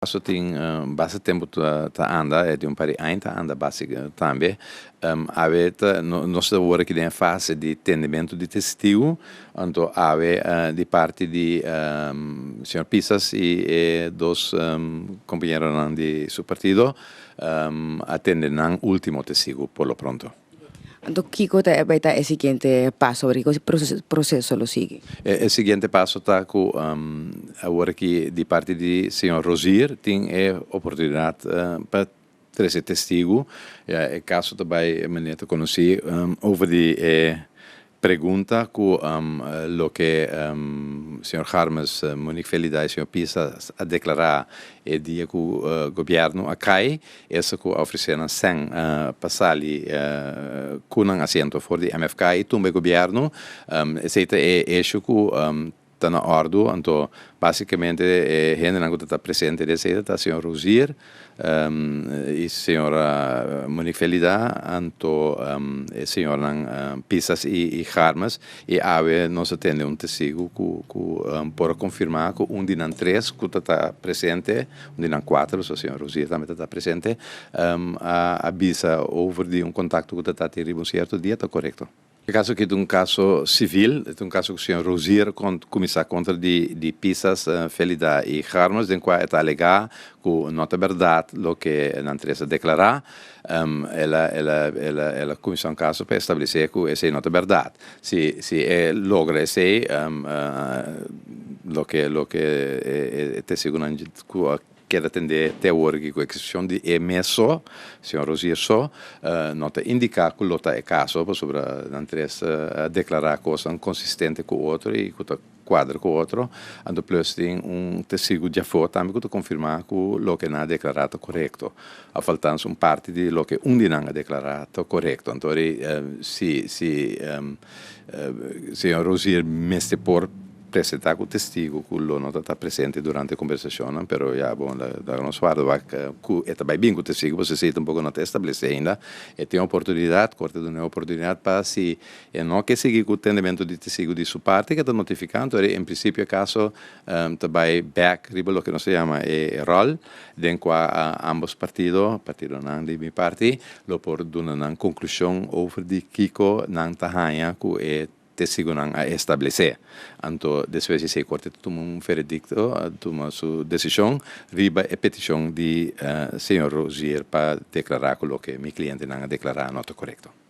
Paso tin basta tempu ta anda, e di un par di aña ta anda basta tambe. Awe ta, nos ta worde aki den e fase di tendementu di testigu, anto awe di parti di señor Pisas i e dos compañeronan di su partido a tende nan ultimo testigu por lo pronto. Anto kiko ta e bai ta e siguiente paso awe? Kiko proceso lo sigui? E siguiente paso ta cu awor aki di parti di señor Rosier tin e oportunidad pa trece testigo, ya e caso ta bai manera ta conoci over di e Pregunta cu loke señor Garmes, Monique Felida y señor Pisa a declara e dia cu gobierno a cay, esa cu a ofrece nan cen pa sali cu nan asiento for di MFK y tumba e gobierno, esey ta e hecho cu Ta na ordu, anto basikamente e hendenan ku ta ta presente di esei ta ta señor Rozier i señora Monique Felida anto e señornan Pisas i Garmes i awe nos a tende un testigu ku por a konfirmá ku un di nan tres ku ta ta presente, un di nan kuater pasobra señor Rozier tambe ta ta presente, a bisa over di un kontakto ku ta ta tin riba un sierto dia ta korekto. E kaso aki ta un kaso sivil, e ta un kaso ku señor Rozier a kuminsá kontra di Pisas, Felida i Garmos, den kua e ta alegá ku no ta bèrdat loke nan tres a deklará. El a kuminsá un kaso pa establesé ku esei no ta bèrdat. Si e logra esei loke e tesigunan ku a Keda tende te awor aki ku eksepshon di e mes so, señor Rosier so, no ta indiká ku lo ta e kaso pasobra nan tres a deklará kosnan konsistente ku otro i ku ta kuadra ku otro, anto plus tin un testigu djafó tambe ku ta konfirmá ku loke nan a deklará ta korekto, òf altans un parti di loke un di nan a deklará ta korekto. Anto si señor Rosier mester por. Presenta cu testigo cu lo no ta ta presente durante e conversacionnan, pero ya bo lo ta nos warda cu e ta bay bin cu testigo pasobra esey ta un poco no ta establece ainda. E tin oportunidad, Corte ta duna e oportunidad pa si e no ke sigui cu tendementu di testigo di su parti ke ta notifica antori en principio e caso ta bay back riba loke nos ta yama e rol den cua ambos partido, partidonan di mi parti, lo por duna nan conclusion over di kico nan ta haya cu e te sigu nan a establesé. Anto despues di esei Corte ta tuma un veredicto, a tuma su decision riba e peticion di señor Rouzier pa declara cu loke mi clientenan a declara no ta corecto.